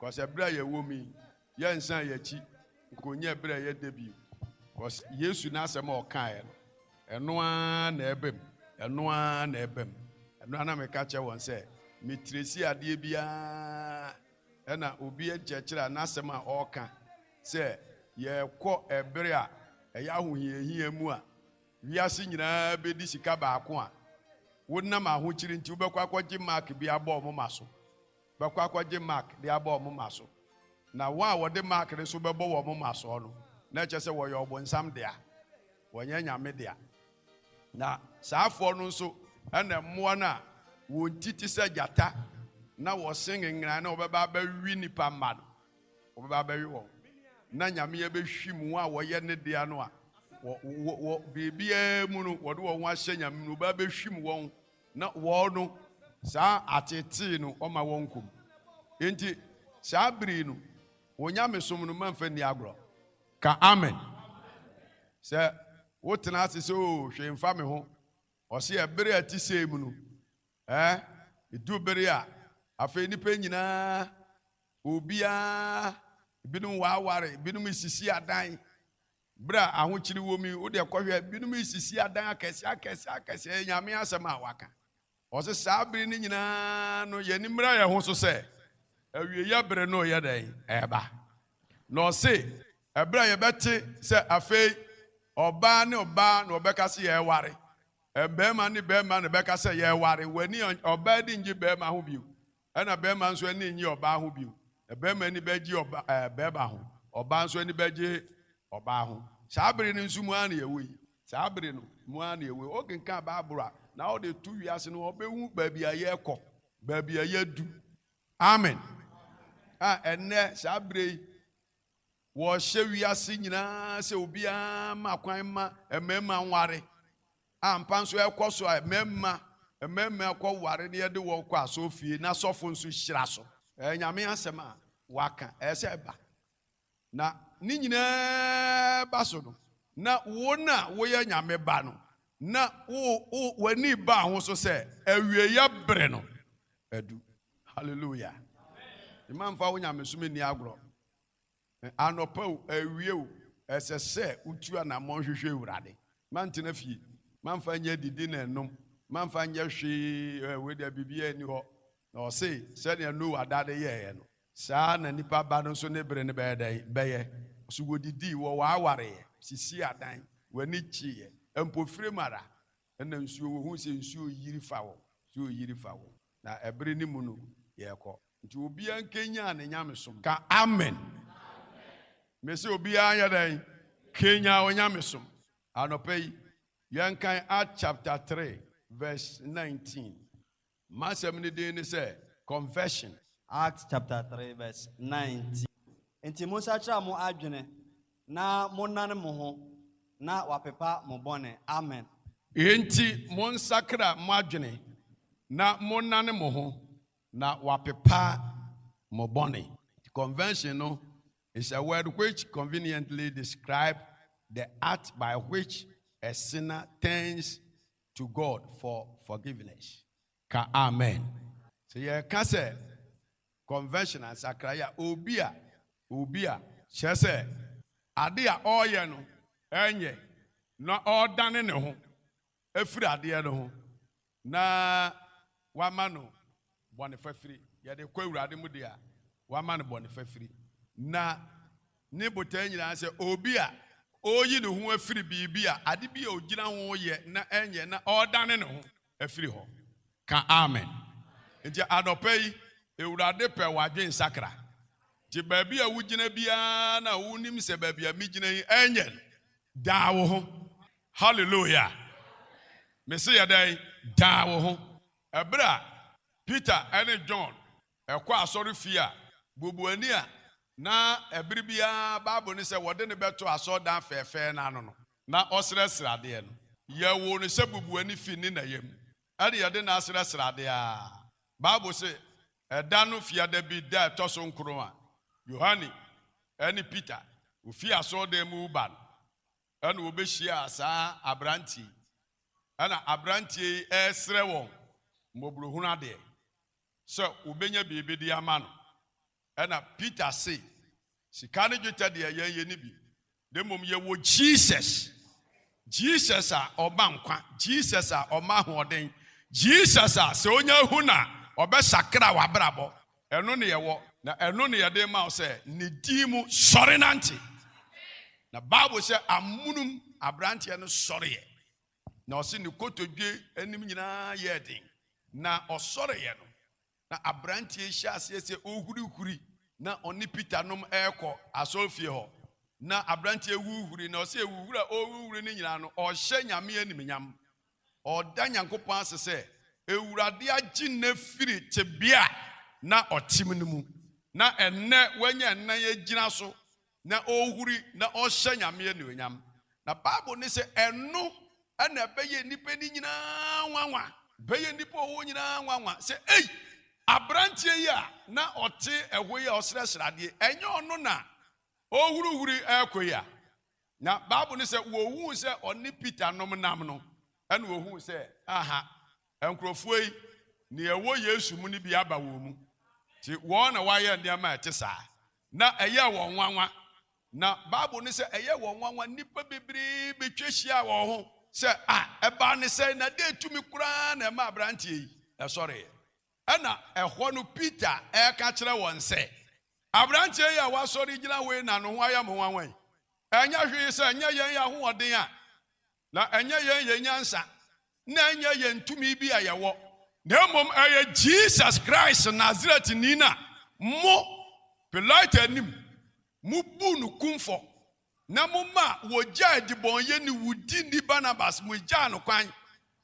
'Cause bere a yɛwɔ mu yi, yɛnsan yɛn akyi nkonyɛ bere a ɛyɛ dɛ bio. Cause Yesu n'asɛm a ɔkaeɛ no, ɛno ara na ɛreba mu, ɛno ara na ɛreba mu. Ɛno ara na meka kyerɛ wɔn sɛ, mekyerɛ si adeɛ biara na obi nkyerɛkyerɛ a n'asɛm a ɔreka sɛ yɛrekɔ ɛbere a ɛyɛ ahohiahia mu a wiase nyinaa bɛdi sika baako a wonam ahokyere nti wobɛkɔ akɔgye mark bi abɔ wɔn ma so bɛkɔ akɔgye mark de abɔ wɔn moma so, na wɔn a wɔde mark no nso bɛbɔ wɔn moma soɔ no, na ɛkyerɛ sɛ wɔyɛ ɔbonsam dea, wɔnyɛ Nyame dea. Na saafoɔ no nso na mmoa no a wɔn ti te sɛ gyata na wɔsen nngran na wɔbɛba abɛwe nnipa mma no, wɔbɛba abɛwe wɔn, na Nyame abɛhwim wɔn a wɔyɛ Ne dea no a wɔ, wɔ, wɔ biribiara mu no wɔde wɔn ho ahyɛ Nyame mu no, wɔbɛba abɛhwim wɔn Na wɔn no, saa ateetee no ɔma wɔn komm. Enti saa bere yi no, wɔn nyamesom no mamfa nni agorɔ. Ka amen sɛ wotena ase sɛ, Oo, hwee mfa me ho. Ɔseɛ, Bere a ɛte sei mu no, ɛɛ, edu bere a afei nnipa nyinaa, obiara, ebinom waware, ebinom resisi adan, Bere a ahokyere wom yi, wo deɛ kɔhwɛ, binom resisi adan akɛseɛ akɛseɛ akɛseɛ, ɛyɛ Nyame asɛm a waka. Ɔse saa bere no nyinaa no, yɛn ani mmra yɛn ho so sɛ, awieyɛ bere no reyɛ dɛn? Ɛreba. Na ɔse, ɛberɛ a yɛbɛte sɛ afei ɔbaa ne ɔbaa na wɔbɛka se yɛreware, ɛɛ barima ne barima na ɛbɛka sɛ yɛreware, w'ani, ɔbaa ani nnye barima ho bio, Ɛna bɛɛma nso ani nnye ɔbaa ho bio. Bɛɛma ani bɛgye bɛɛma ho, ɔbaa nso ani bɛgye ɔbaa ho. Saa bere no nso mu ara na yɛwɔ yi. Saa bere no mu ara na yɛwɔ yi. Wokenkan Bible a, na wode to wiase no, wɔbɛhu baabi a yɛrekɔ, baabi a yɛadu. Amen. A, ɛnnɛ, saa bere yi, Wɔhyɛ wiase nyinaa sɛ obiara mma kwan mma mmarima nware. Ampa nso ɛkɔ so a mmarima mmarima kɔ ware na yɛde wɔn kɔ asɔrefie na sɔfo nso hyira so. Ɛyɛ Nyame asɛm a waka, ɛsɛ sɛ ɛba. Na ne nyinaa ba so no, na wo no a woyɛ Nyame ba no, na wo wo w'ani baa ho so sɛ awieɛ bere no adu. Hallelujah. Mma mfa wo nyamesom nni agorɔ. Anɔpa o, awia o, ɛsɛ sɛ wotu anammɔn hwehwɛ Awurade. Mantena fie, mamfa nyɛ adidi na ɛnom, mamfa nyɛ hwee, ɛ, wei deɛ biribiara nni hɔ. Na ɔse, sɛdeɛ Noa da de yɛeɛ no, saa ara na Nipa Ba no nso ne bere no bɛyɛ dɛn? Bɛyɛ. Ɔse, wɔdidii, wɔwaawareeɛ, sisii adan, wɔani gyeeɛ, mpofirim ara, Ɛna nsuo wɔhunu sɛ nsuo reyiri fa wɔn, nsuo reyiri fa wɔn, na ɛbere no mu no yɛrekɔ. Nti obiara nkanyan ne nyamesom. Ka amen. Mese obiara nyɛ dɛn? Kanyan wo nyamesom. Anɔpa yi, yɛnkan Acts chapter three verse nineteen. M'asɛm no din ne sɛ, Confession. Acts chapter three verse nineteen, Enti monsakyera mo adwene na monnane mo ho, na wɔapepa mo bɔne. Amen. Enti monsakra mo adwene na monnane mo ho, na wɔapepa mo bɔne. Convention no is a word which conveniently describe the act by which a sinner turns to God for forgiveness. Ka amen. Sɛ yɛka sɛ conversion a, nsakrae a, obi a, obi a. Kyerɛ sɛ, ade a ɔreyɛ no ɛnyɛ na ɔredane ne ho afiri adeɛ no ho na wama no Bɔne fafiri, Yɛde kɔ Awurade mu deɛ a, wama no bɔne fafiri. Na Ne botae nyinaa sɛ obi a ɔreyi ne ho afiri biribi a, ade bi a ɔgyina ho yɛ na ɛnyɛ na ɔredane ne ho afiri hɔ. Ka Amen. Nti anɔpa yi, Awurade pɛ w'adwensakra. Nti baabi a wogyina biara no a wonim sɛ baabi a megyina yi ɛnyɛ no, daa wo ho. Hallelujah! Mese yɛ dɛn? Daa wo ho. Bere a Peter ne John kɔ asɔrefie a, bubuani a na bere biara Bible no sɛ wɔde no bɛto asɔredan fɛɛfɛɛ no ano no, na ɔsrɛ sradeɛ no. Yɛwoo no sɛ bubuani fi ne na yam, ɛnna yɛde no asrɛ sradeɛ ara. Bible se, Ɛda no Fiadabi da a ɛtɔ so nkron a, Yohane ne Peter, wɔfii asɔredan mu reba no, ɛna wɔbɛhyiaa saa aberanteɛ yi, ɛna aberanteɛ yi ɛresrɛ wɔn mmɔborɔhunu adeɛ sɛ wɔbɛnya biribi de ama no, ɛna Peter se, sika ne dwetɛ deɛ yɛn yɛnni bi, na mmom yɛwɔ Jesus, Jesus a ɔma nkwa, Jesus a ɔma ahoɔden, Jesus a sɛ ɔnya hu no a ɔbɛsakra w'abrabɔ. Ɛno na yɛwɔ, na ɛno na yɛde ma wo sɛ ne din mu sɔre nante. Na Bible sɛ amunum aberanteɛ no sɔreeɛ, na ɔse ne kotodwe anim nyinaa yɛɛ den, na ɔsɔreeɛ no, na aberanteɛ yi hyɛɛ aseɛ sɛ ɔhurihuri, na ɔne Peter nom ɛrekɔ asɔrefie hɔ. Na aberanteɛ huhuri, na ɔse huhuri a ɔrehuhuri no nyinaa no, ɔrehyɛ Nyame animuonyam. ɔda Nyankopɔn ase sɛ Awurade agye no afiri tebea a na ɔte mu no mu, na ɛnnɛ wanya nan agyina so na ɔrehuri na ɔrehyɛ Nyame anuonyam. Na Bible no se ɛno na ɛbɛyɛ nnipa no nyinaa nwanwa. Ɛbɛyɛ nnipa a wɔwɔ hɔ nyinaa nwanwa sɛ, Ei! Aberanteɛ yi a na ɔte ɛhɔ yi a ɔsrɛsrɛ adeɛ, ɛnyɛ ɔno na ɔrehuruhuri rekɔ yi a? Na Bible no sɛ wɔhuu sɛ ɔne Peter nom nam no, ɛna wɔhuu sɛ, aha, nkurɔfoɔ yi, nea ɛwɔ Yesu mu no bi aba wɔn mu. Nti wɔn na wɔayɛ nneɛma a ɛte saa. Na ɛyɛɛ wɔn nwanwa. Na Bible no sɛ ɛyɛɛ wɔn nwanwa, nnipa bebree bɛtwa hyiaa wɔn ho sɛ, Ah, ɛbaa no sɛn, na dɛn tumi koraa na ɛmaa aberanteɛ yi sɔreeɛ? Ɛnna ɛhɔ no Peter reka kyerɛ wɔn sɛ, Aberanteɛ yi a wasɔre gyina hɔ yi na ne ho ayɛ mo nwanwa yi. Ɛnyɛ hwee sɛ ɛnyɛ yɛn ahoɔden a, na ɛnyɛ yɛn yɛn nyansa, na ɛnyɛ yɛn tumi bi a yɛwɔ, na mmom ɛyɛ Jesus Christ Nasaretni no a mo, Pilato anim, mobuu no kumfɔ Na moma wɔgyaa dibɔnyɛ ne wo di ni Barnabas, mogyaa no kwan,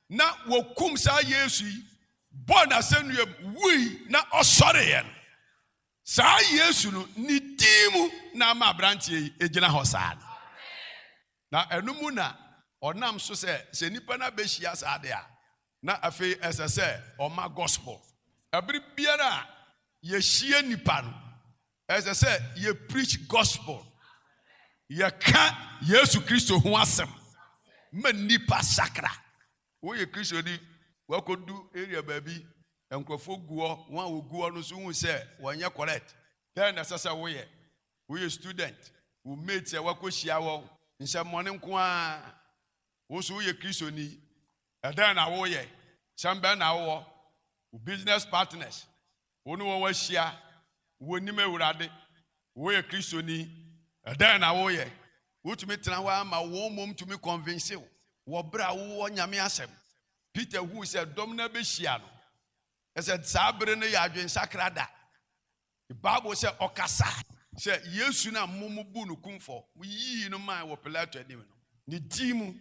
na wɔkum saa Yesu yi, bɔɔ no asɛnnuam, wui, na ɔsɔreeɛ no. Saa Yesu no, ne din mu na ama aberanteɛ yi gyina hɔ saa no. Na ɛno mu na ɔnam so sɛ, sɛ nnipa no abɛhyia saa deɛ a, na afei ɛsɛ sɛ ɔma Gospel. Ɛberɛ biara a yɛhyia nnipa no, Ɛsɛ sɛ yɛ preach gospel. Yɛka Yesu Kristo ho asɛm ma nnipa sakra. Woyɛ Kristoni, wakɔdu area baabi, nkurɔfoɔ gu hɔ, wɔn a wɔgu hɔ no nso hu sɛ wɔnyɛ correct. Dɛn na ɛsɛ sɛ woyɛ? Woyɛ student, wo mates a wakɔhyia wɔn, nsɛmmɔne nko ara. Wo nso woyɛ Kristoni, ɛdɛn na woyɛ? Sɛm bɛn na wowɔ? Wo business partners, Wo ne wɔn ahyia, wɔnnim Awurade. Woyɛ Kristoni? Ɛdɛn na woyɛ? Wotumi tena hɔ ara ma wɔn mmom tumi kɔnvinse wo wɔ bere a wowɔ Nyame Asɛm. Peter hui sɛ dɔm no abehyia no. Kyerɛ sɛ, saa bere no yɛ adwensakra da. Bible sɛ, Ɔkasae sɛ, Yesu no a mobu no kumfɔ, moyii no mae wɔ Pilato anim no, ne din mu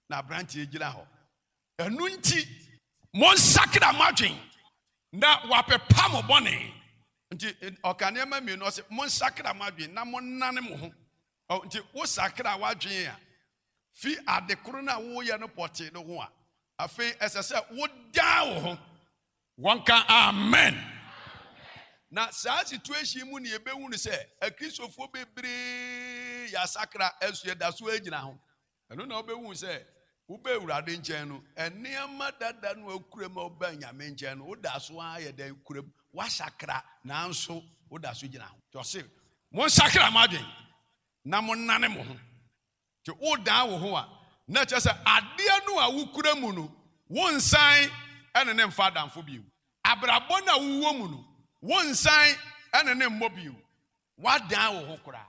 na aberante yi gyina hɔ. Ɛno nti, monsakra mo adwene na wɔapepa mo bɔne. Nti ɔka nneɛma mmienu, ɔsɛ monsakra mo adwene na monnane mo ho. Nti wosakra w'adwene a, fi ade koro no a woyɛ no pɔtee no ho a, afei ɛsɛ sɛ wodan wo ho. Wɔnka amen. Na saa situation mu ne yɛbɛhu no sɛ akristofoɔ bebree yɛasakra, ɛso yɛda so gyina ho. Ɛno na wobɛhunu sɛ woba Awurade nkyɛn no, nneɛma dada no a wokura mu a wobaa Nyame nkyɛn no, woda so ara yɛ dɛn kura mu. Woasakra, nanso woda so gyina ho. Nti ɔse, monsakra mo adwen na monnane mo ho. Nti wodan wo ho a, na ɛkyerɛ sɛ adeɛ no a wokura mu no, wonsan ne no mfa adamfo bio. Abrabɔ no a wowɔ mu no, wonsan ne no mmɔ bio. Woadan wo ho koraa.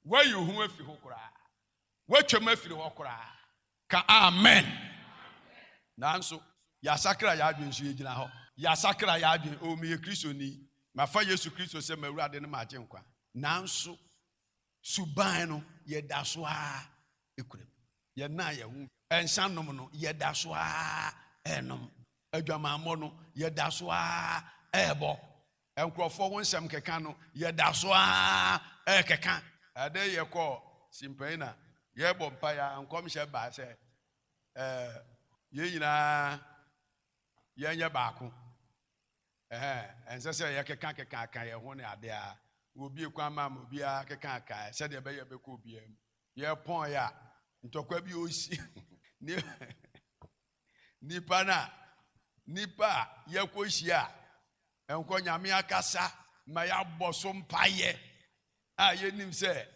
Woayi wo ho afi ho koraa. Woatwam afiri hɔ koraa. Ka amen. Nanso, yɛasakra yɛn adwene nso yɛgyina hɔ. Yɛasakra yɛn adwene, oo meyɛ Kristoni, mafa Yesu Kristo sɛ m'Awurade ne m'Agyenkwa. Nanso, suban no, yɛda so ara kura mu. Yɛnna yɛn ho. Nsanom no, yɛda so ara renom. Adwamammɔ no, yɛda so ara rebɔ. Nkurɔfoɔ ho nsɛm keka no, yɛda so ara rekeka. Ɛde yɛkɔɔ Simpai na yɛrebɔ mpaeɛ ara, nkɔmhyɛ baa sɛ, eh, yɛn nyinaa yɛnyɛ baako. Ɛhɛɛ, ɛnsɛ sɛ yɛkekakekanka yɛn ho ne adeɛ ara. Wɔbue kwan maa ma obiara kekaakaeɛ sɛdeɛ ɛbɛyɛ ɛbɛkɔ obiara mu. Yɛpɔnee a, ntɔkwa bi resi ne Nnipa no a, nnipa a yɛkɔhyia a, ɛnkɔ Nyame akasa ma yɛabɔ so mpaeɛ a yɛnim sɛ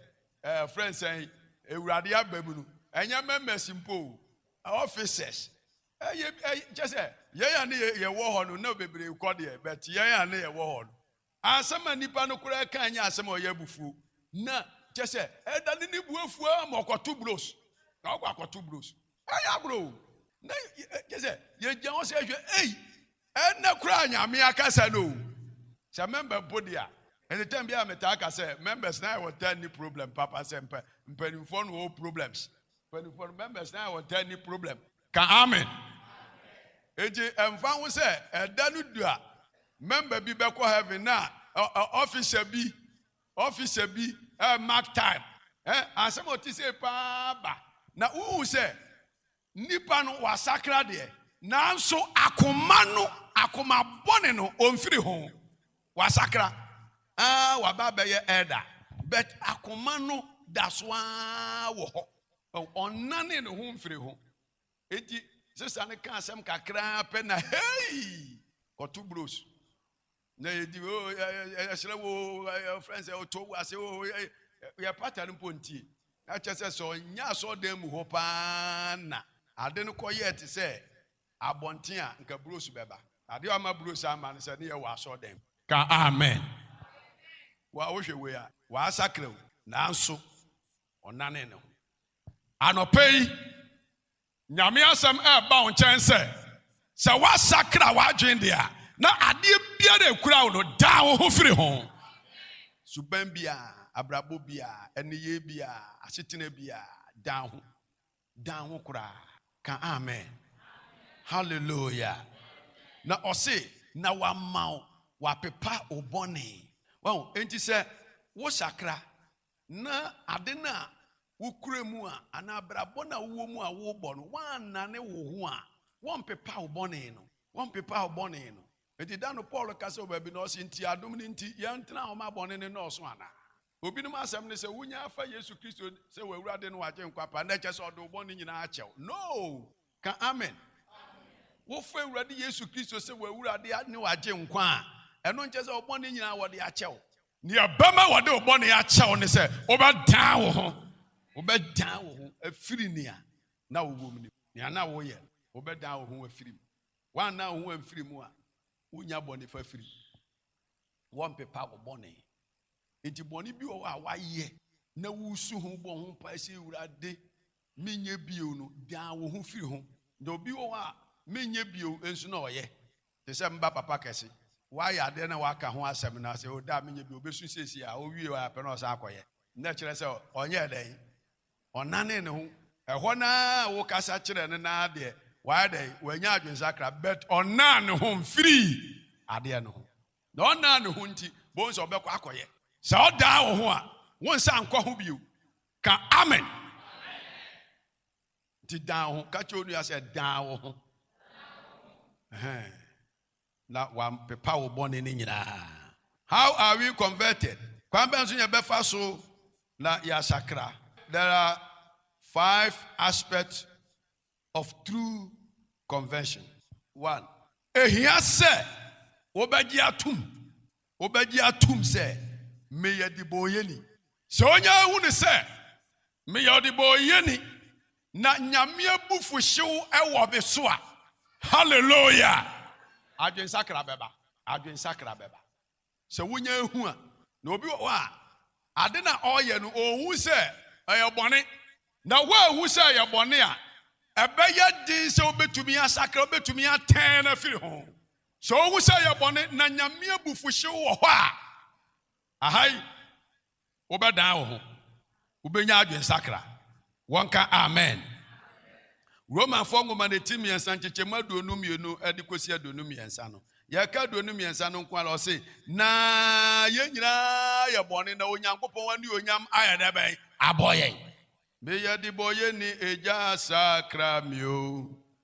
ɛfrɛ eh, nsɛn Awurade aba mu no, ɛnyɛ mɛmɛs mpo o, offices ɛyɛ kyɛ sɛ yɛn a ne yɛwɔ hɔ no na bebree kɔ deɛ bɛte yɛn a ne yɛwɔ hɔ no Asɛm a nnipa no koraa kae nyɛ asɛm a ɔyɛ abufuo. Na, kyerɛ sɛ, ɛdane ne bo afuo ara ma ɔkɔto blows. Na ɔkɔ akɔto blows. Ɛyɛ agorɔ o. Na kyerɛ sɛ, yɛgyina hɔ sɛ yɛhwɛ, ei, ɛnnɛ koraa Nyame akasa no o. Sɛ mɛmba mpo deɛ a, anytime biara metaa ka sɛ, members no ayɛ wɔn taa nni problem papa sɛ mpa, mpanimfoɔ no wɔwɔ problems. Mpanimfoɔ no, members no ayɛ wɔn taa nni problem. Ka amen. Enti ɛmfa ho sɛ ɛda no du a mɛmba bi bɛkɔ heaven na ɔfisa bi ɔfisa bi mark time asɛm a ɔte sei paa ba na wohu sɛ nipa no wasakra deɛ nanso akoma no akoma bɔne no ɔmfiri ho. Wasakra aa waba abɛyɛ elder but akoma no daso aa wɔ hɔ. Ɔnnane ne ho mfiri ho. Enti sister no kaa asɛm kakraa pɛ na hei! Kɔto bros na yɛdi oo yɛsrɛ wo oo friends ɛ ɔtɔ wo ase oo yɛ pata no mpo ntie. Na kyɛ sɛ sɛ ɔnyɛ asɔɔdan mu hɔ paa na ade no kɔyɛɛ te sɛ Abɔnten a nka bros bɛba. Adeɛ a ama bros amma no sɛ ne yɛ wɔ asɔɔdɛm. Ka amen. Wo a wohwɛ wei a, w'asakra o. Nanso ɔnanee ne ho. Anɔpa yi, Nyame asɛm ɛɛba wo nkyɛn sɛ, sɛ w'asakra w'adwene deɛ a, na adeɛ biara a ɛkura wo no, dan wo ho firi ho. Suban biara, abrabɔ biara, ɛneyɛɛ biara, asetena biara, dan ho. dan ho koraa. Ka amen. Hallelujah. Na ɔse, na wama wo, wapepa wo bɔne. Wahu? Enti sɛ wo sakra, na ade no a wokura mu a, anaa abrabɔ no a wowɔ mu a wobɔ no, woannane wo ho a, wɔmpepa wo bɔne no. Wɔmpepa wo bɔne no. Enti da no Paul kasa wɔ baabi na ɔse, nti adom no nti, yɛntena hɔ ma bɔne no nnɔɔso anaa? Obinom asɛm ne sɛ wonya afa Yesu Kristo sɛ w'Awurade ne w'Agyenkwa paa na ɛkyɛ sɛ ɔde wo bɔne nyinaa akyɛ wo. No! Ka Amen. Wofa Awurade Yesu Kristo sɛ w'Awurade ne w'Agyenkwa a, ɛno nkyɛ sɛ wo bɔne nyinaa wɔde akyɛ wo. Nea ɛbɛma wɔde wo bɔne akyɛ wo ne sɛ wobɛdan wo ho. Wobɛdan wo ho afiri nea na wowɔ mu no mu, nea na woyɛ no, wobɛdan wo ho afiri mu. Woannan wo ho amfiri mu a, wonnya bɔne fafiri. wɔmpepa wo bɔne nti bɔne bi wɔ hɔ a wayɛ na wusu ho bɔ ho mpae sɛ awurade menyɛ bio no dan wo ho firi ho na obi wɔ hɔ a menyɛ bio nso na ɔyɛ te sɛ mba papa kɛse wayɛ adeɛ na waka ho asɛm na sɛ ɔda a menyɛ bio obesu siesie a owie a pɛ na ɔsan akɔyɛ na kyerɛ sɛ ɔnyɛ dɛn Ɔnanee ne ho. Ɛhɔ no ara a wokasa kyerɛɛ no no ara deɛ, wayɛ dɛn? Wanya adwensakra. But ɔnaa ne ho mfirii adeɛ no ho. Na ɔnaa ne ho nti, bohu sɛ ɔbɛkɔ akɔyɛ. Sɛ ɔdaa wo ho a, wo nsa nkɔ ho bio. Ka Amen. Nti dan wo ho. Ka kyerɛ onua sɛ, dan wo ho. Ɛhɛn. Na wɔapepa wo bɔne no nyinaa. How are we converted? Kwan bɛn so na yɛbɛfa so na yɛasakra? There are five aspects of true conversion. One. Ehia sɛ wobɛgye atom Wobɛgye atom sɛ meyɛ debɔɔyɛni. Sɛ onya hu no sɛ meyɛ ɔdebɔɔyɛni na Nyame abufuhyew wɔ me so a, Hallelooya! Adwensakra bɛba. Adwensakra bɛba. Sɛ wonya hu a, na obi wɔ hɔ a, ade no a ɔreyɛ no, onhu sɛ ɛyɛ bɔne. Na woanhu sɛ ɛyɛ bɔne a, ɛbɛyɛ den sɛ wobɛtumi asakra, wobɛtumi atɛn afiri ho. Sɛ wohu sɛ ɛyɛ bɔne na Nyame abufuhyew wɔ hɔ a, aha yi wobɛdan wo ho, wobɛnya adwensakra. Wɔnka Amen. Romanfoɔ nwoma no ti mmiɛnsa nkyekyɛmu aduonu mmienu de kɔsi aduonu mmiɛnsa no, yɛka aduonu mmiɛnsa no nko ara, ɔse, Na yɛn nyinaa yɛ bɔne, na Onyankopɔn anuonyam ayɛ dɛ bɛn? Abɔ yɛn. Meyɛ debɔyɛni, Agya sakra me o.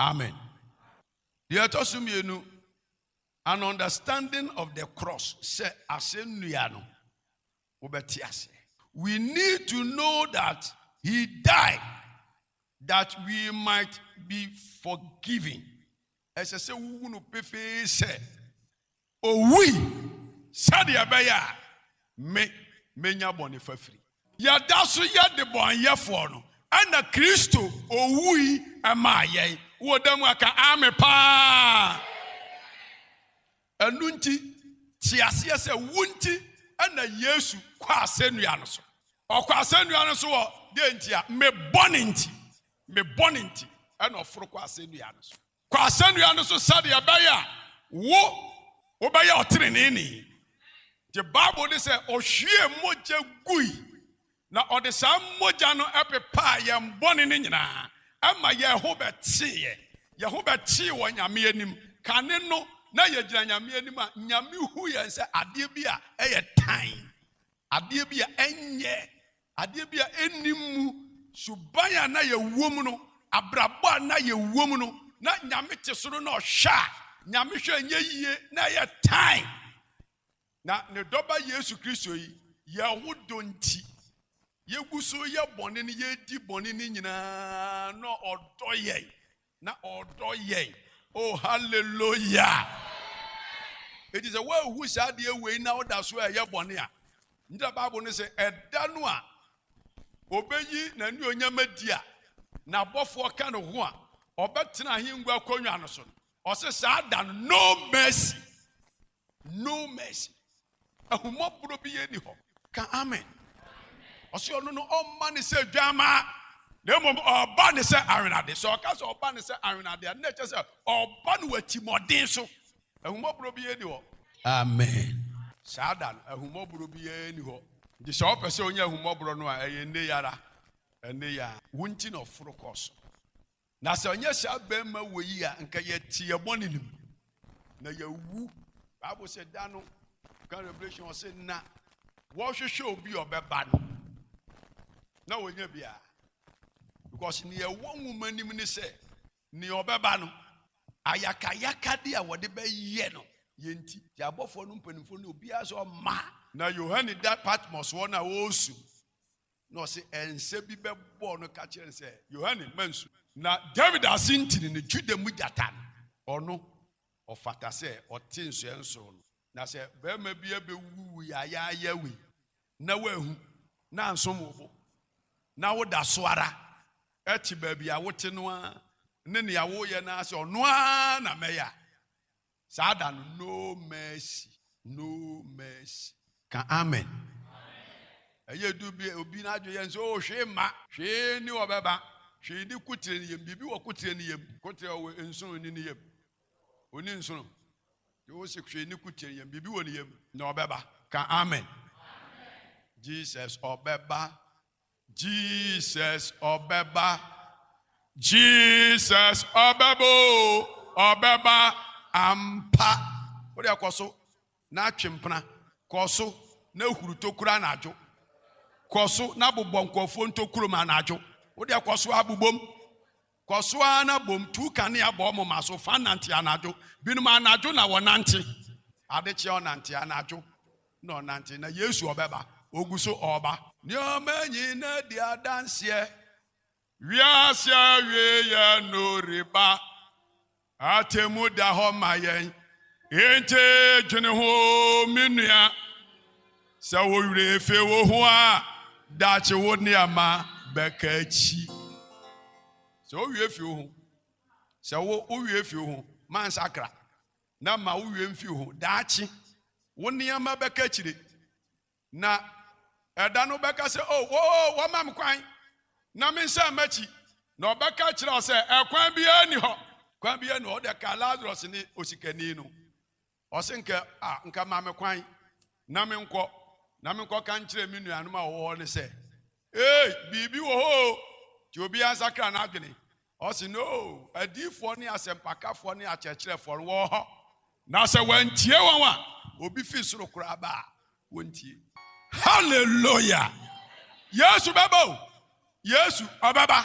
Amen. Deɛ ɛtɔ so mmienu, an understanding of the cross sɛ asɛnnua no wobɛte aseɛ. We need to know that he died that we might be forgiven. Ɛsɛ sɛ wohu no pefee sɛ Owui sɛdeɛ ɛbɛyɛ a me mɛnya bɔne fafiri. Yɛda so yɛ debɔneyɛfoɔ no, ɛna Kristo owui maa yɛn. Wowɔ da mu a ka Aame paa. Ɛno nti te aseɛ sɛ wo nti ɛna Yesu kɔ asɛnnua no so. Ɔkɔ asɛnnua no so wɔ deɛ nti a? Me bɔne nti. Me bɔne nti ɛna ɔforo kɔ asɛnnua no so. Kɔ asɛnnua no so sɛdeɛ ɛbɛyɛ a wo, wobɛyɛ ɔteneneeni. Nti Bible no sɛ, Ɔhwiee mogya gui, na ɔde saa mogya no pepaa yɛn bɔne no nyinaa, ɛma yɛn ho bɛteeɛ. Yɛn ho bɛtee wɔ Nyame anim. Kane no, na yɛgyina Nyame anim a, Nyame hu yɛn sɛ adeɛ bi a ɛyɛ tan, adeɛ bi a ɛnyɛ Adeɛ bi a ɛnni mmu. Suban a na yɛwɔ mu no, abrabɔ a na yɛwɔ mu no, na Nyame te soro na Ɔhwɛ a Nyame hwɛ nyɛ yie, na ɛyɛ tan. Na Ne Dɔba Yesu Kristo yi, yɛn ho dɔ nti, yɛgu so yɛ bɔne no, yɛdi bɔne no nyinaa, na Ɔdɔ yɛn. Na ɔdɔ yɛn. Oh, hallelujah! Eti sɛ woahu saa adeɛ wei na woda so ɛyɛ bɔne a, ngyina Bible no sɛ ɛda no a obeyi n'anuonyam adi a n'abɔfoɔ ka ne ho a ɔbɛtena ahengua akonnwa no so no, ɔse saa da no, no mercy. No mercy. Ahummɔborɔ bi yɛ ni hɔ. Ka amen. Ɔsɛ ɔno no ɔmma ne sɛ dwamaa na mmom ɔba ne sɛ awenade. Sɛ ɔka sɛ ɔba ne sɛ awenade a, na ɛkyɛ sɛ ɔba no wɔ atirimmɔden so. Ahummɔborɔ bi yɛ ni hɔ. Amen. Saa da no, ahummɔborɔ bi yɛ ni hɔ. Nti sɛ ɔpɛ sɛ ɔnya ahummɔborɔ no a, ɛyɛ nne yara. Ɛnne ya. Wo nti na ɔforo kɔɔ so. Na sɛ ɔnyɛ saa barima wɔ yi a, nka yɛte yɛ bɔne no mu, na yɛawu. Bible sɛ da no, kan Revelation ɔsɛ na wɔhwehwɛ obi a ɔbɛba no, na wɔnya biara. Because nea ɛwɔ nwoma anim ne sɛ, nea ɔbɛba no, ayakayakade a wɔde bɛyɛ no, yɛ nti, yɛ abɔfoɔ no mpanimfoɔ no, obiara sɛ ɔma. Na Yohane da Patmos hɔ no a ɔresu. Na ɔse ɛnsɛ bi bɛbɔɔ no ka kyerɛɛ no sɛ, Yohane, mansu. Na Dawid asentini no, Juda mu gyata no, ɔno, ɔfata sɛ ɔte nsoɛ nsoro no. Na sɛ barima bi abɛwuwu wo yayaayaa wei, na woanhu, na ansom wo bo, na woda so ara te baabi a wote no ara, ne nea woreyɛ no ara sɛ ɔno ara na mɛyɛ a, Saa da no no mercy no mercy. Ka amen. Ɛyɛ du bi obi n'adwe yɛ nso oh hwee ma. Hwee ni wɔ bɛba. Hwee ni kotire ni yam biribi wɔ kotire ni yam. Kotire ɔwɔ nsono ni ni yam. Oni nsono. Te wo se hwee ni kotire ni yam biribi wɔ ni yam. Na ɔbɛba. Ka amen. Jesus ɔbɛba. Jesus ɔbɛba, Jesus ɔbɛba o, ɔbɛba ampa. Wode akɔ so na atwe mpena, kɔ so na huru tokuro anadwo, kɔ so na bobɔ nkurɔfoɔ ntokuro mu anadwo, wode akɔ so abobom. Kɔ so ara na bom, tu kanea bɔ wo moma so, fa nante anadwo. Binom anadwo na wɔnante, adekyee ɔnante, anadwo na ɔnante, na Yesu ɔbɛba, ɔgu so ɔreba. Nneɛma nyinaa di adanseɛ. Wiase awieeɛ no reba. Atemmu da hɔ ma yɛn, enti dwene ho, me nua. Sɛ wo werɛ fi wo ho a, daakye wo nneɛma bɛka akyi. Sɛ wowie fi wo ho, sɛ wo wowie fi wo ho, ma nsakra na ma wowie mfi wo ho. Daakye wo nneɛma bɛka akyire. Na ɛda no wobɛka sɛ, 'O, o, o, wɔmma me kwan na mensan m'akyi. Na ɔbɛka akyerɛ wo sɛ, 'Ɛkwan biara nni hɔ. Kwan biara nni hɔ. Wode ka Lasarus ne osikani no. Ɔse nka, a, nka ma me kwan na menkɔ, na menkɔka nkyerɛ me nuanom a wɔwɔ hɔ no sɛ, 'Ei, biribi wɔ hɔ o! Nti obiara nsakra n'adwene. Ɔse no adiyifoɔ ne asɛmpakafoɔ ne akyerɛkyerɛfoɔ no wɔ hɔ na sɛ wɔantie wɔn a obi fi soro koraa ba a wɔntie. Hallelujah! Yesu bɛba o! Yesu ɔbɛba!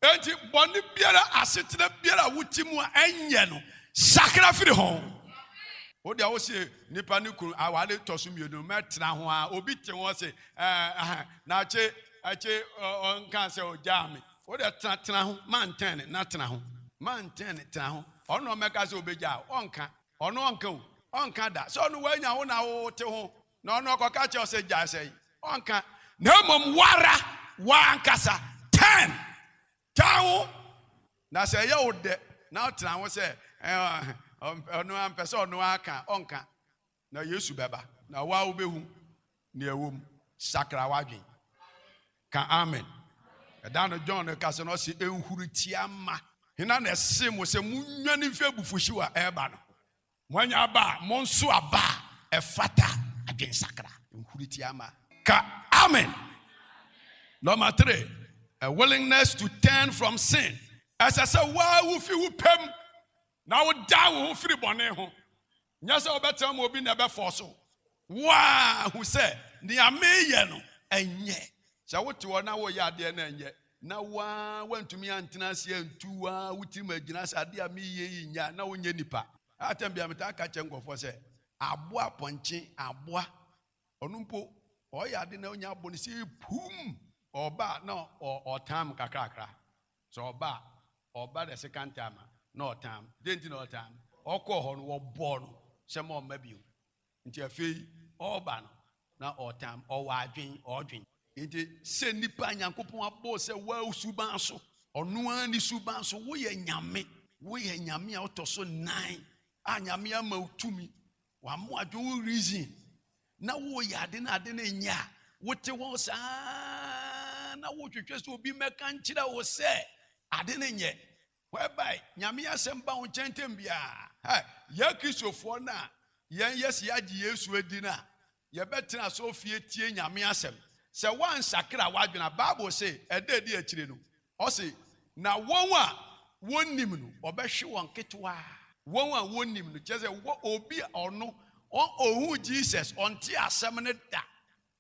Enti bɔne biara asetena biara a wote mu a ɛnyɛ no sakra firi ho. Wo deɛ wose nipa ne kunu awale tɔ so mmienu mɛtena ho a obi te ho ɔse ɛɛ eh, na akye akye ɔnka sɛ ɔgyaa me. Wo deɛ tena, tena ho, manntɛn ne, na tena ho, manntɛn ne, tena ho, ɔno na ɔmmɛka sɛ ɔbɛgyaa wo, ɔnnka, ɔno ɔnnka o, ɔnnka da sɛ ɔno wanya wo na wo te ho, na ɔno ɔkɔka kyerɛ wo sɛ gyae sɛe, ɔnnka, na mmom wo ara w'ankasa tɛn, tɛn ho, na sɛ ɛyɛ wo dɛ na tena ho sɛ, ɛɛ, ɔmpɛ, ɔno ara mpɛ sɛ ɔno ara ka, ɔnnka. Na Yesu bɛba, na wo ara wobɛhu nea ɛwɔ mu. Sakra w'adwene. Ka amen. Ɛda no John rekasa no, ɔse, Nhurutia mma. Hena na ɛsee mo sɛ monnwane mfi abufuhyew a ɛreba no ho? Moanya aba a, monsow aba a ɛfata adwensakra. Nhurutia mma. Ka amen. Nɔma tire, A willingness to turn from sin. Ɛsɛ sɛ wo ara wufi wo pɛ mu na wodan wo ho firi bɔne ho. Nyɛ sɛ wobɛtena mu obi na ɛbɛfɔɔse wo. Woahu sɛ nea mereyɛ no nyɛ. Sɛ wote hɔ na woreyɛ adeɛ na ɛnyɛ, na wo ara woantumi antena ase antu wo ara wo tirim agyina sɛ adeɛ a mereyɛ yi nyɛ a, na wonyɛ nipa. Atɛm bi a metaa ka kyerɛ nkurɔfoɔ sɛ, aboa pɔnkye, aboa, ɔno mpo ɔreyɛ ade na ɔnya abo no, sɛ ɛpuum ɔba a na ɔretan mo kakrakra. Sɛ ɔba a, ɔba the second time a, na ɔtaa me. Dɛn nti na ɔtaa me? Ɔkɔɔ hɔ no, wɔbɔɔ no sɛ ma ɔmma bio. Nti afei ɔreba no, na ɔtaa me. Ɔwɔ adwen, ɔredwen. Nti sɛ nnipa a Nyankopɔn abɔ wo sɛ woawo suban so, ɔno ara ne suban so, woyɛ Nyame. Woyɛ Nyame a ɔtɔ so nnan a Nyame ama wo tumi Wamo adwo wo reason na woyɛ ade no ade no nyɛ a wote hɔ saa na wohwehwɛ sɛ obi mɛka nkyerɛ wo sɛ ade no nyɛ whereby nyame asɛm ba wo nkyɛn ntɛm biara yɛ kristofoɔ no a yɛn yɛsi agye yesu adi no a Yɛbɛtena asɔrefie tie Nyame asɛm. Sɛ woansakra w'adwene a, Bible se, ɛda a ɛdi akyire no, ɔse, Na wɔn a wɔnnim no, ɔbɛhwe wɔn ketewaa. Wɔn a wɔnnim no, kyerɛ sɛ, wɔ obi a ɔno, ɔnhuu Jesus, ɔntee asɛm no da.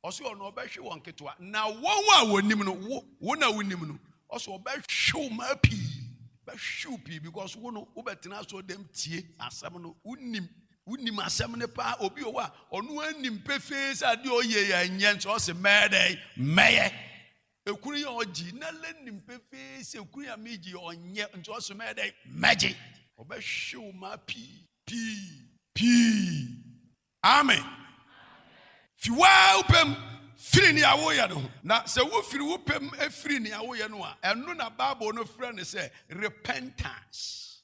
Ɔse ɔno, ɔbɛhwe wɔn ketewaa. Na wɔn a wɔnnim no, wo, wo na wonim no, ɔse ɔbɛhwe wo mmaa pii. Bɛhwe wo pii because wo no, wobɛtena asɔredam tie asɛm no, wonnim. Wonim asɛm no paa. Obi wɔ hɔ a, ɔno ara nim pefee sɛ adeɛ a ɔyɛ yi ɛnyɛ nso ɔse mɛyɛ dɛn? Mɛyɛ. Ekunu yi a ɔgye na lɛ nim pefee sɛ ekunu yi a megye yi ɔnyɛ nso ɔse mɛyɛ dɛn? Mɛgye. Ɔbɛhwe wo maa pii pii pii. Amen. Fi wo ara wo pɛ mu firi nea woyɛ no ho. Na sɛ wofiri wo pɛ mu firi nea woyɛ no a, ɛno na Bible no frɛ no sɛ repentance.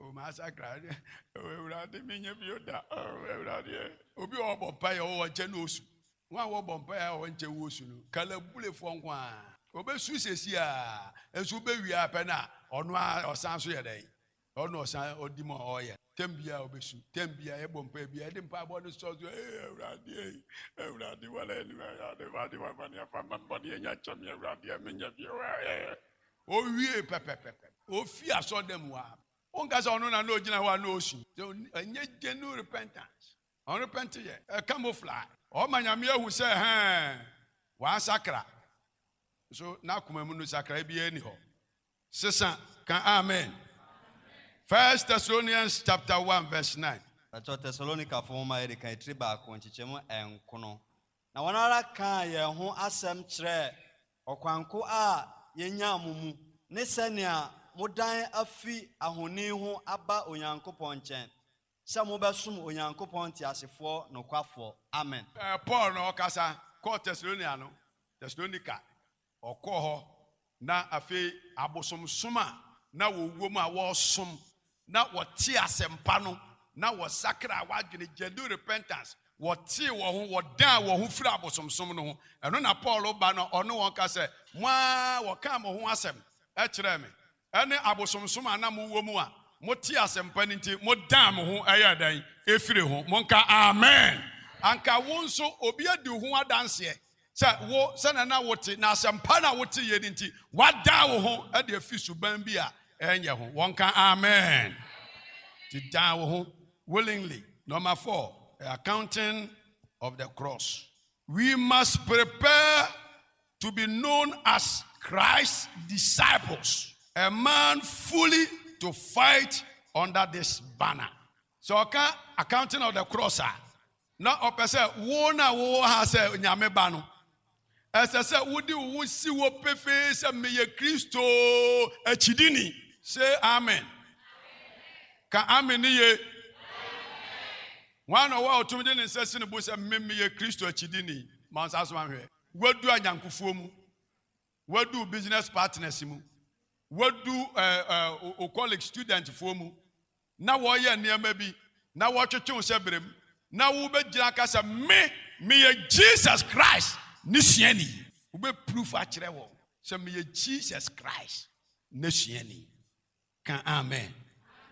Oh masakra oh awurade menyɛ bio da oh awurade eh. obi a ɔbɔ mpaeɛ ɔwɔ ɔkyɛ na osu wɔn a wɔbɔ mpaeɛ a wɔnkyɛ wɔ osu no kalabulefoɔ nko a obesu sɛsi a nso obewie apɛ na ɔno a ɔsan so yɛ dɛ ɔno ɔsan ɔdi mu a ɔyɛ tɛm bi a obesu tɛm bi a ɛbɔ mpaeɛ bi a ɛde mpaebɔ no sɔ so ee awurade ee awurade wɔlɛ ɛni wɔyɛ ɔde wɔde wɔn bɔ ne ɛfa mma bɔ ne ɛnya kyɛm awurade ɛmi nya bi ɛwɔ ɛɛ. Owiei pɛpɛpɛpɛ, ofii asɔrdan mu hɔ ara. Wonka sɛ ɔno na na ogyina hɔ a na osu. Sɛ ɛnyɛ genuine repentance, ɔrepɛnte yɛ, ɛ camouflage. Ɔma Nyame ahu sɛ ɛhɛɛ, wansakra. Nso n'akoma mu no nsakrae biara nni hɔ. Sesa, ka amen. First Thessalonians chapter one verse nine. Kyerɛw Tesalonikafo Nhoma a Edi Kan, Tiri Baako, Nkyekyɛmu Nkron, Na wɔn ara kaa yɛn ho asɛm kyerɛɛ ɔkwanko a yenyaa mo mu, ne sɛnea modan afi ahoni ho aba Onyankopɔn nkyɛn, sɛ mobɛsom Onyankopɔn teasefoɔ nokwafoɔ. Amen. Paul na ɔkasa kɔɔ Tesalonia no, Thessalonica. Wɔkɔɔ hɔ, na afei abosomsom a na wɔwom a wɔresom na wɔtee asɛmpa no na wɔsakraa wɔn adwene, genuine repentance, wɔtee wɔn ho, wɔdan wɔn ho firii abosomsom no ho. Ɛno na Paul ba no ɔne wɔn ka sɛ, Mo ara wɔkaa mo ho asɛm kyerɛɛ me, Ɛne abosomsom a na mowɔ mu a motee asɛmpa no nti modan mo ho yɛɛ dɛn? Firii ho. Monka Amen! Anka wo nso obi adi wo ho adanseɛ sɛ wo, sɛdeɛ na wote na asɛmpa no a woteeɛ no nti, woadan wo ho de afiri suban bi a ɛnyɛ ho. Wɔnka Amen! Nti dan wo ho willingly. Number four, the accounting of the cross. We must prepare to be known as Christ's disciples. A man fully to fight under this banner. Sɛ ɔka accounting of the cross a, na ɔpɛ sɛ wo na wowɔ ha sɛ Nyame ba no, ɛsɛ sɛ wode wo ho si hɔ pefee sɛ meyɛ Kristo akyidini. Say amen. Ka amen ne ye. Wɔn na ɔwɔ a ɔtumi de ne nsa si ne bo sɛ me meyɛ Kristo akyidini. Ma nsa so ahwɛ. Woadu anyɛnkofoɔ mu. Woadu wo business partners mu. Woadu ɛɛ ɛɛ wo colleague studentfoɔ mu. Na wɔreyɛ nneɛma bi, na wɔretwetwe wo sɛ brem, na wobɛgyina aka sɛ, Me, meyɛ Jesus Christ N'asuani. Wobɛproof akyerɛ wɔn sɛ, Meyɛ Jesus Christ N'asuani. Ka amen.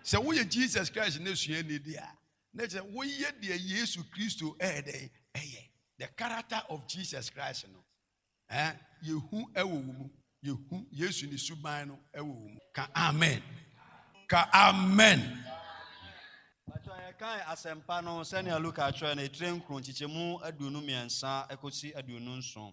Sɛ woyɛ Jesus Christ n'asuani de a, na kyerɛ woyɛ deɛ Yesu Kristo ɛyɛ dɛn ɛyɛ. The character of Jesus Christ no eh, yɛhu ɛwɔ wo mu. Yɛhu Yesu ne suban no ɛwɔ wo mu. Ka amen. Ka amen. Bàtò yɛkae asɛmpa no sɛnea Luka kyerɛ no, etire nkron, nkyekyɛmu aduonu mmiɛnsa kɔsi aduonu nson.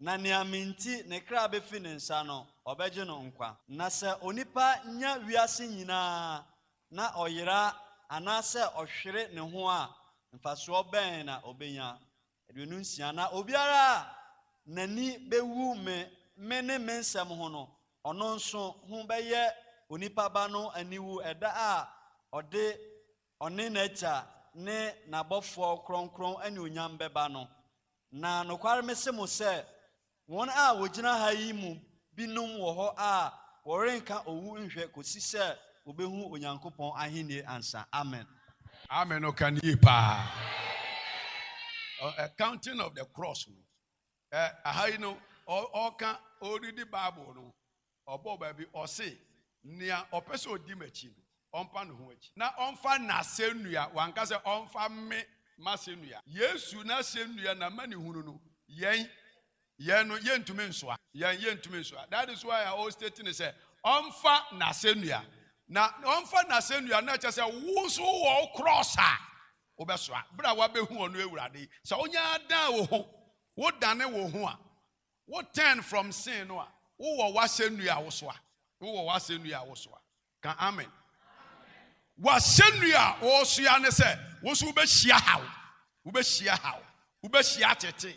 Na nea me nti ne kra befi ne nsa no, ɔbɛgye no nkwa. Na sɛ onipa nya wiase nyinaa na ɔyera anaasɛ ɔhwere ne ho a, mfasoɔ bɛn na ɔbɛnya? Aduonu nsia. Na obiara a n'ani bɛwu me, me ne me nsɛm ho no, ɔno nso ho bɛyɛ onipa Ba no aniwu ɛda a ɔde Ɔne n'Agya ne n'abɔfoɔ kronkron anuonyam bɛba no. Na nokware mese mo sɛ, wɔn a wɔgyina ha yi mu binom wɔ hɔ a wɔrenka owu nhwɛ kɔsi sɛ wɔbɛhu Onyankopɔn ahennie ansa. Amen. Amen no ka no yie paa. Accounting of the cross no, aha yi no ɔka ɔredi Bible no, Ɔbɔɔ baabi, ɔse, Nea ɔpɛ sɛ ɔdi m'akyi no, ɔmpa ne ho akyi, na ɔmfa n'asɛnnua, wanka sɛ ɔmfa me, m'asɛnnua. Yesu n'asɛnnua, n'amanehunu no, yɛn, yɛn no, yɛntumi nsoa. Yɛn, yɛntumi nsoa. That is why a ɔrestate no sɛ, ɔmfa n'asɛnnua. Na ɔmfa n'asɛnnua no, na ɛkyerɛ sɛ wo nso wowɔ wo krɔɔs a wobɛsoa, berɛ a woabɛhu ɔno Awurade yi. Sɛ wonyɛ ara dan wo ho, wodane wo ho a, Wo turn from sin no a, wo wɔ w'asɛnnua a wo so a. Wo wɔ w'asɛnnua a wo so a. Ka amen. W'asɛnnua a wo so a ne sɛ, wo nso wo bɛ hyia haw. Wo bɛ hyia haw. Wo bɛ hyia atetee.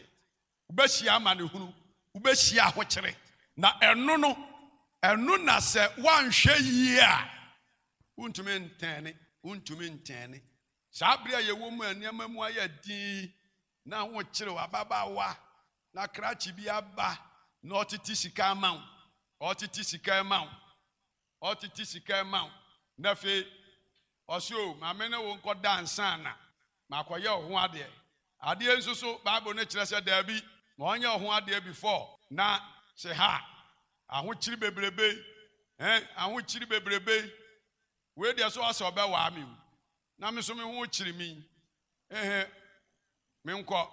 Wo bɛ hyia amanehunu. Wo bɛ hyia ahokyere. Na ɛno no, ɛno na sɛ woanhwɛ yie a, wo ntumi ntɛɛne. Wo ntumi ntɛɛne. Saa bere a yɛwɔ mu a nneɛma mu ayɛ den yi, Na wokyerew ababaawa na krakye bi aba na ɔtete sika ama wo, ɔtete sika ma wo, ɔtete sika ma wo, na afei ɔse o, ma me ne wo nkɔda ansa na makɔyɛ wo ho adeɛ. Adeɛ nso so Bible no kyerɛ sɛ daabi, ma ɔnyɛ wo ho adeɛ before. Na se ha, ahokyere bebrebe yi, eh, ahokyere bebrebe yi, wei deɛ so ɔse ɔbɛwaa me o, Na me nso me ho kyere me yi, ehe, menkɔ.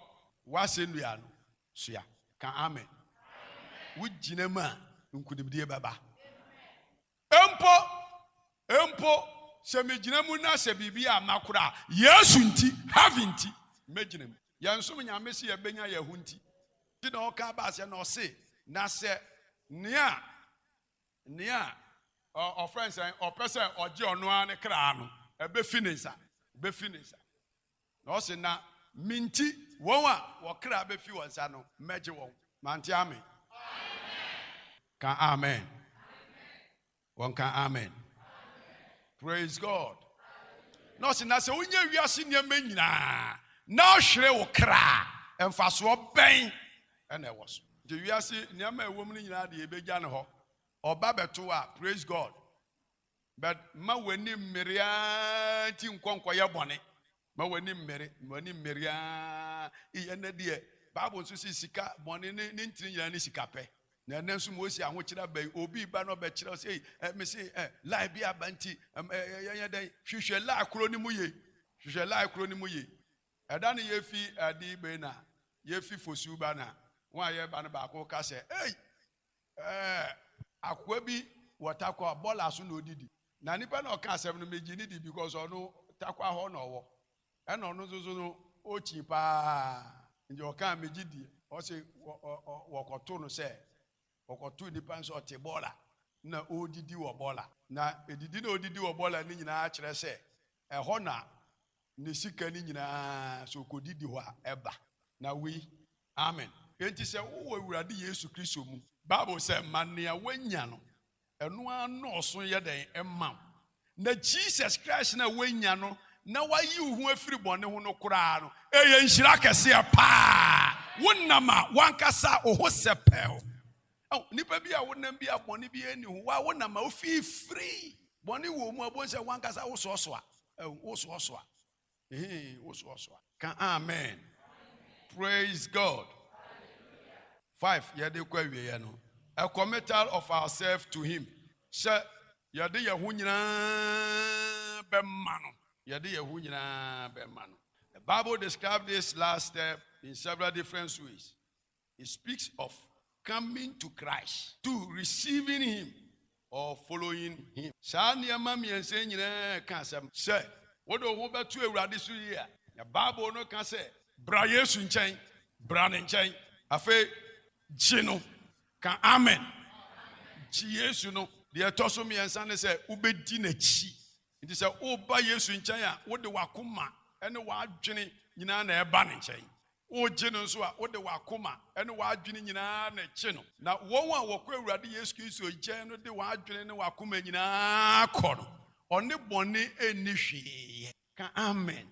W'asɛnnua no soa. Ka amen. Wogyina mu a, nkonimdie bɛba. Mpo, mpo sɛ megyina mu na sɛ biribi amma koraa a, Yesu nti, Heaven nti, mɛgyina mu. Yɛnsom Nyame sɛ yɛbɛnya yɛn ho nti. Nti na ɔka baa sɛ, na ɔse, na sɛ nea. Nea ɔfrɛ no sɛn? Ɔpɛ sɛ ɔgye ɔno ara ne kra no, ɛbɛfi ne nsa. Ɛbɛfi ne nsa. Na ɔse, na me nti, wɔn a wɔn kra bɛfi wɔn nsa no, mɛgye wɔn. Mante ame? Ka amen. Wɔnka amen. Praise God. Na ɔse, na sɛ wonya wiase nneɛma nyinaa na ɔhwere wo kra a, mfasoɔ bɛn na ɛwɔ so. Nti wiase nneɛma a ɛwɔ mu no nyinaa de yɛbɛgya no hɔ. Ɔba bɛto a, praise God, but mma w'ani mmere ara nti nkɔ nkɔyɛ bɔne. Ma w'ani mmere, ma w'ani mmere ara. Iyɛ nnɛ deɛ, Bible nso se sika, bɔne ne ne ntini nyinaa ne sika pɛ. Na ɛnnɛ nso Mose ahokyere aba yi, obi reba na ɔbɛkyerɛ wo sɛ, ei, eh, mese eh, lie bi aba nti, eh, eh, yɛnyɛ dɛn? Hwehwɛ lie koro no mu yie. Hwehwɛ lie koro no mu yie. Ɛda no yɛfi adi bɛn na yɛfi Fosu ba na wɔn a yɛreba no baako ka sɛ, Ei! Ɛɛ! Akoa bi wɔ Tarkwa, bɔɔla so na ɔdidi. Na nipa no a ɔka asɛm no, megye no di because ɔno Tarkwa hɔ na ɔwɔ. Ɛna ɔno nso so no, ɔkyin pa ara. Nti ɔkaa megye di. Ɔse wɔkɔtoo no sɛ, wɔkɔtoo nipa no sɛ ɔte bɔɔla na ɔredidi wɔ bɔɔla. Na ɛdidi na ɔredidi wɔ bɔɔla no nyinaa kyerɛ sɛ ɛhɔ na ne sika no nyinaa sɛ ɔkɔdi di hɔ a, ɛba. Na wei, amen. Enti sɛ wowɔ Awurade Yesu Kristo mu, Bible sɛ, ma nea woanya no, ɛno ara nnɔɔso yɛ dɛn? Mma wo. Na Jesus Christ no a woanya no, na wayi wo ho afiri bɔne ho no koraa no, ɛyɛ nhyira kɛseɛ paa. Wonam a w'ankasa wo ho sɛpɛw. Ao, nnipa bi a wonam bi a bɔne biara nni ho, wa wonam ma wofii firi. Bɔne wɔ mu a, wobɛhu sɛ w'ankasa wosoɔsoa. Ao, wosoɔsoa. Ehee, wosoɔsoa. Ka amen. Praise God. Five, yɛde kɔ awieɛ no, a committal of ourselves to Him, sɛ yɛde yɛn ho nyinaa bɛma No. Yɛde yɛn ho nyinaa bɛma No. The Bible describes this last step in several different ways. He speaks of coming to Christ, two, receiving Him or following Him. Saa nneɛma mmiɛnsa yi nyinaa reka asɛm sɛ wode wo ho bɛto Awurade so yie a, na Bible no ka sɛ, Bra Yesu nkyɛn, bra Ne nkyɛn, afei gye No. Ka Amen. Gye Yesu no. Deɛ ɛtɔ so mmiɛnsa ne sɛ wobɛdi N'akyi. Nti sɛ woreba Yesu nkyɛn a, wode w'akoma ne w'adwene nyinaa na ɛreba Ne nkyɛn. Wogye no nso a, wode w'akoma ne w'adwene nyinaa na ɛgye no. Na wɔn a wɔkɔ Awurade Yesu Kristo nkyɛn no de wɔn adwene ne wɔn akoma nyinaa kɔ no. Ɔne bɔne nni hwee yɛ. Ka amen.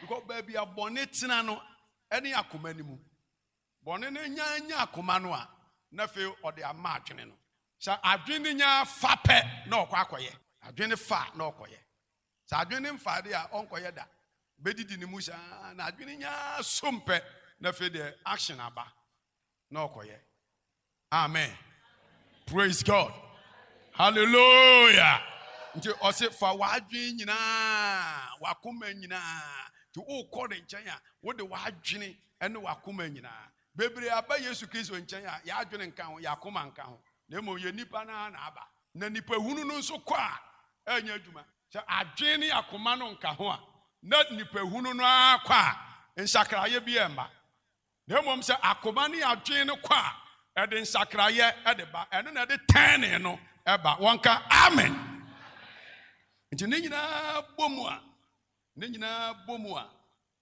Because baabi a bɔne tena no, ɛne akoma no mu. Bɔne no nya anya akoma no a, na afei ɔde ama adwene no. Sɛ adwene no nya fa pɛ, na ɔkɔ akɔyɛ. Adwene fa a, na ɔkɔyɛ. Sɛ adwene no mfa adeɛ a, ɔnkɔyɛ da. Ɔbɛdidi ne mu saa na adwene nya ara som pɛ na afei deɛ action aba na ɔkɔyɛ. Amen. Praise God. Hallelujah. Nti ɔse fa w'adwene nyinaa, w'akoma nyinaa. Nti wokɔ ne nkyɛn a, wode w'adwene ne w'akoma nyinaa. Bebree aba Yesu Kristo nkyɛn a, yɛadwene nka ho, yɛakoma nka ho. Na mmom yɛ nipa no ara na aba. Na nipahunu no nso kɔ a ɛrenyɛ adwuma. Sɛ adwene ne akoma no nka ho a, na nipahunu no ara kɔ a nsakraeɛ biara mma. Na mmom sɛ akoma ne adwene no kɔ a, ɛde nsakraeɛ de ba. Ɛno na ɛde tɛnee no ba. Wɔnka, Amen! Nti ne nyinaa bɔ mu a, ne nyinaa bɔ mu a.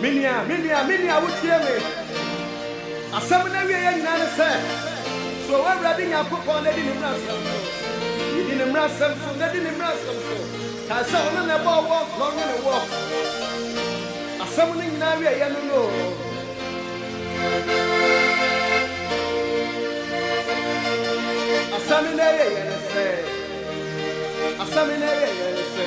Me nua, me nua, me nua, wotie me? Asɛm no awieɛ nyinaa ne sɛ, Suro w'Awurade Nyankopɔn na di ne mmaransɛm so. Di ne mmaransɛm so, na di ne mmaransɛm so. Kae sɛ ɔno na ɛbɔɔ woɔ na ɔnwonee woɔ. Asɛm no nyinaa awieɛ no no. Asɛm no awieɛ ne sɛ, asɛm no awieɛ ne sɛ.